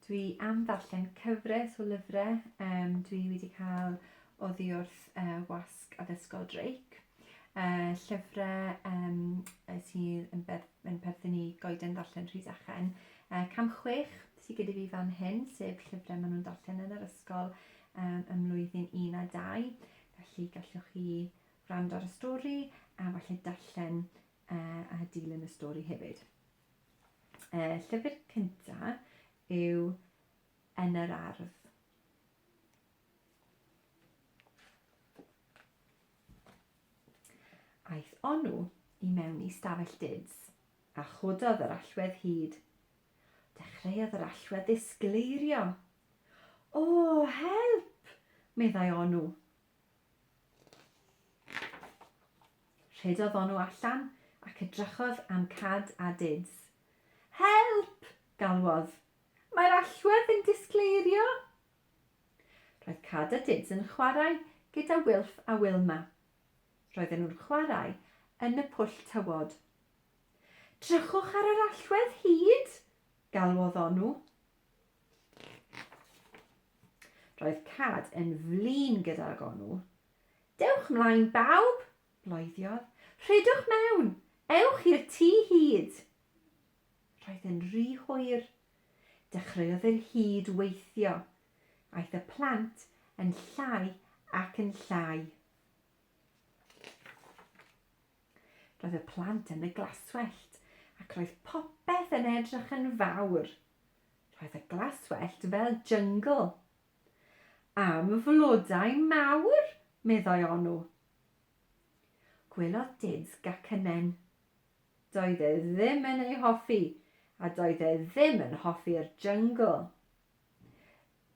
Dwi am ddarllen cyfres o lyfrau. Um, dwi wedi cael oddi wrth uh, wasg addysgol Drake. Uh, llyfrau um, sydd yn, ber, yn perthyn i goeden ddarllen Rhys Achen. Uh, cam chwech sydd gyda fi fan hyn, sef llyfrau maen nhw'n darllen yn yr ysgol um, ym mlwyddyn 1 a 2. Felly gallwch chi wrando ar y stori a falle darllen uh, a dilyn y stori hefyd. Y llyfr cyntaf yw Yn yr Ardd. Aeth Onw i mewn i stafell duds, a chododd yr allwedd hyd. Dechreuodd yr allwedd ddisgleirio. O, help! meddai Onw. Rhedodd Onu allan ac edrychodd am Cad a Dids. Help! galwodd. Mae'r allwedd yn disgleirio! Roedd Cad a Dids yn chwarae gyda Wilff a Wilma. Roedden nhw'n chwarae yn y pwll tywod. Drychwch ar yr allwedd hud! galwodd Onu. Roedd Cad yn flin gyda'r gonw. Dewch mlaen bawb! bloeddiodd. Rhedwch mewn! Ewch i'r tŷ hud! Roedd yn ry hwyr. Dechreuodd yr hud weithio. Aeth y plant yn llai ac yn llai. Roedd y plant yn y glaswellt ac roedd popeth yn edrych yn fawr. Roedd y glaswellt fel jyngl. Am flodau mawr, meddai Onw. Gwelodd Dids gacynen. Doedd e ddim yn ei hoffi a doedd e ddim yn hoffi'r jyngl.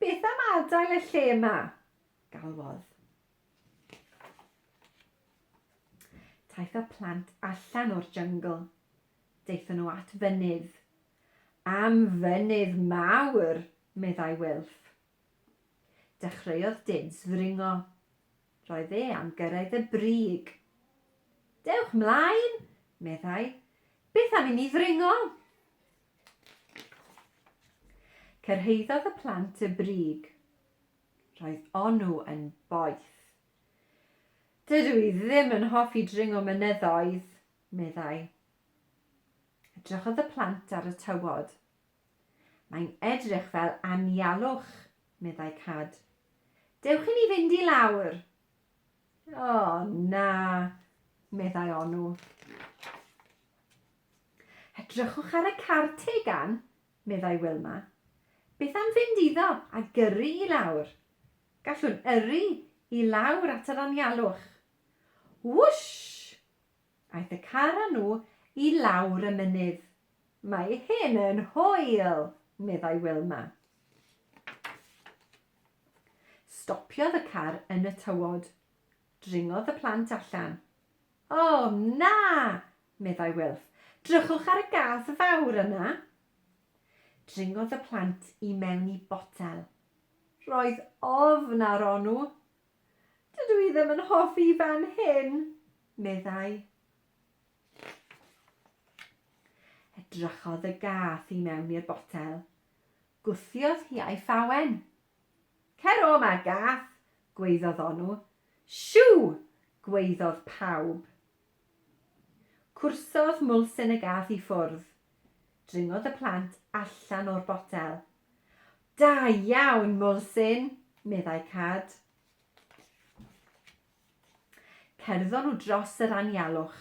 Beth am adael y lle yma? galwodd. Taith y plant allan o'r jyngl. Daethon nhw at fynydd. Am fynydd mawr! meddai Wilf. Dechreuodd Dins ddringo. Roedd e am gyrraedd y brig. Dewch 'mlaen! meddai. Beth am inni ddringo? Cyrhaeddodd y plant y brig. Roedd Onu yn boeth. Dydw i ddim yn hoffi dringo mynyddoedd, meddai. Edrychodd y plant ar y tywod. Mae'n edrych fel anialwch, meddai Cad. Dewch i ni fynd i lawr. O, oh, na, meddai Onu. Edrychwch ar y car tegan, meddai Wilma. Beth am fynd iddo a gyrru i lawr? Gallwn yrru i lawr at yr anialwch. Wwsh! Aeth y car â nhw i lawr y mynydd. Mae hyn yn hwyl! meddai Wilma. Stopiodd y car yn y tywod. Dringodd y plant allan. O, na! meddai Wilf. Drychwch ar y gath fawr yna. Dringodd y plant i mewn i botel. Roedd ofn ar Onu. Dydw i ddim yn hoffi fan hyn, meddai. Edrychodd y gath i mewn i'r botel. Gwthiodd hi a'i phawen. Cer o 'ma, gath, Gwaeddodd Onu. Siw! gwaeddodd pawb. Cwrsodd Mwlsen y gath i ffwrdd. Dringodd y plant allan o'r botel. Da iawn, Mwlsen! meddai Cad. Cerddon nhw dros yr anialwch.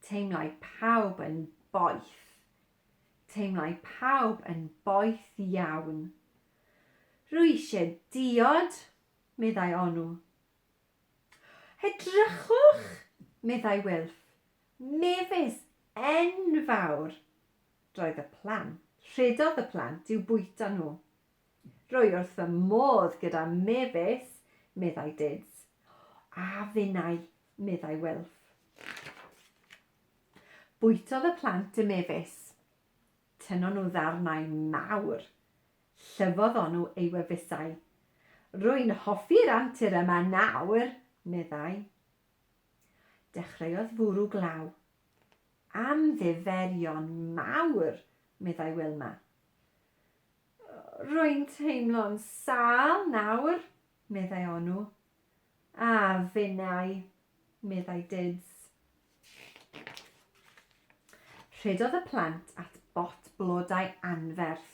Teimlai pawb yn boeth. Teimlai pawb yn boeth iawn. Rwy eisiau diod, meddai Onu. Edrychwch, meddai Wilf, mefus enfawr! Roedd y plant, rhedodd y plant i'w bwyta nhw. Rwy wrth fy modd gyda mefus, meddai Dids. A finnau, meddai Wilf. Bwytodd y plant y mefus. Tynnon nhw ddarnau mawr. Llyfodd onw ei wefusau. Rwy'n hoffi'r antur yma nawr, meddai. Dechreuodd fwrw glaw. Am ddiferion mawr, meddai Wilma. Rwy'n teimlo'n sâl nawr, meddai onw. A finnau, meddai Dids. Rhedodd y plant at bot blodau anferth.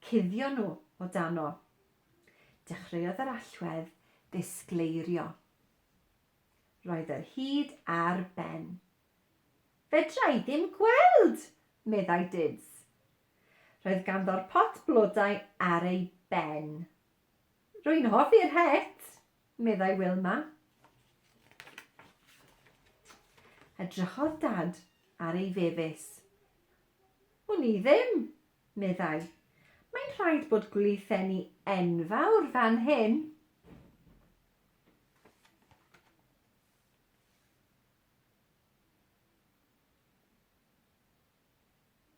Cuddion nhw o dano. Dechreuodd yr allwedd ddisgleirio. Roedd yr hud ar ben. Fedra i ddim gweld! meddai Dids. Roedd ganddo'r pot blodau ar ei ben. Rwy'n hoffi'r het, meddai Wilma. Edrychodd Dad ar ei fefus. Wn i ddim, meddai. Mae'n rhaid bod gwlitheni enfawr fan hyn.